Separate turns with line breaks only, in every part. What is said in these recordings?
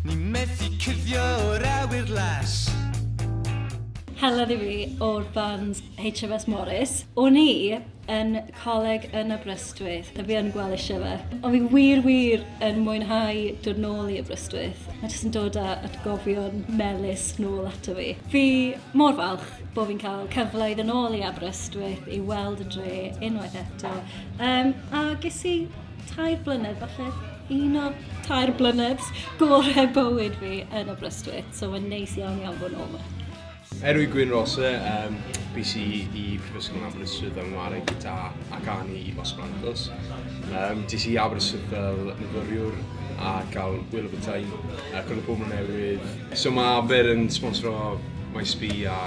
Ni methu cuddio o'r awyr las. Helen i fi o'r band HMS Morris. O'n i yn coleg yn Aberystwyth, a fi yn gweld eisiau fe. Ond fi wir, wir yn mwynhau dod nôl i Aberystwyth. Mae jyst yn dod â atgofion melus nôl ato fi. Fi mor falch bod fi'n cael cyfle i ddod nôl i Aberystwyth i weld y dre unwaith eto. Um, a ges i tair blynedd falle Un o tair blynedd gorau bywyd fi yn Aberystwyth, so mae'n neis iawn iawn bod yn ôl yma. Erwy Gwyn Rose, um, BC i Prifysgol yn Aberystwyth yn wario gyda ac ani i Los Blancos. Um, Dis i Aberystwyth fel myfyriwr a gael wyl o bethau, a gwrdd pobl newydd. So mae Aber yn sponsor o MySB a,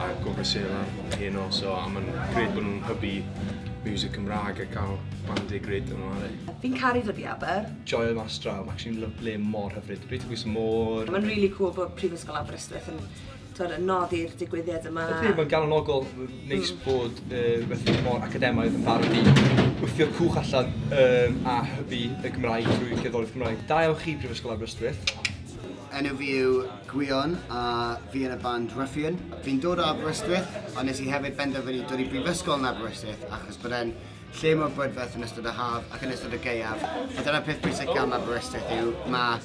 a Gofra Sela heno, so a mae'n gred bod nhw'n hybu music Cymraeg a cael band e gred yn wario. Fi'n caru dod i Aber. Joio mas draw, ma' actually'n lyfli, mor hyfryd. Dwi 'di bod mor... Mae'n rili cŵl bod Prifysgol Aberystwyth yn t'od yn nodi'r digwyddiad yma. Ydi, mae'n galonogol, neis bod yy rwbeth mor academaidd yn barod i wthio cwch allan yym a hybu y Gymraeg drwy gerddoriaeth Cymraeg. Da iawn chi Prifysgol Aberystwyth. Enw fi yw Gwion a fi yn y band Ruffian. Fi'n dod o Aberystwyth ond nes i hefyd benderfynu dod i brifysgol yn Aberystwyth achos bod e'n lle mor brydferth yn ystod y haf ac yn ystod y gaeaf. A dyna'r peth bwysig gan Aberystwyth yw, mae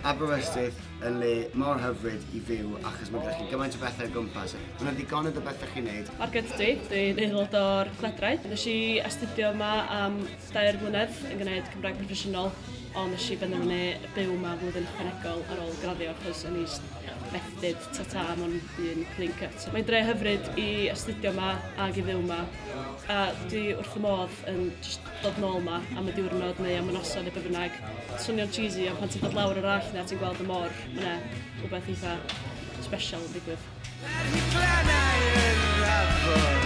Aberystwyth yn le mor hyfryd i fyw achos mae gennych chi gymaint o bethau o gwmpas. Mae'n ddigonedd o bethau chi'n neud. Mark Gyddy, dwi'n aelod o'r Llydraeth. Nes i astudio yma am dair mlynedd yn gwneud Cymraeg proffesiynol, ond nes i benderfynu byw yma flwyddyn ychwanegol ar ôl graddio achos o'n i methdyd tata am ond un clean cut. Mae'n dre hyfryd i astudio yma ac i fyw yma. A dwi wrth fy modd yn jyst dod nôl 'ma am y diwrnod neu am y noson neu be' bynnag. Swnio'n cheesy ond pan ti'n dod lawr yr Allt 'na ti'n gweld y môr ma' 'na rwbeth eitha sbesial yn digwydd. Ar hyd glannau yr afon.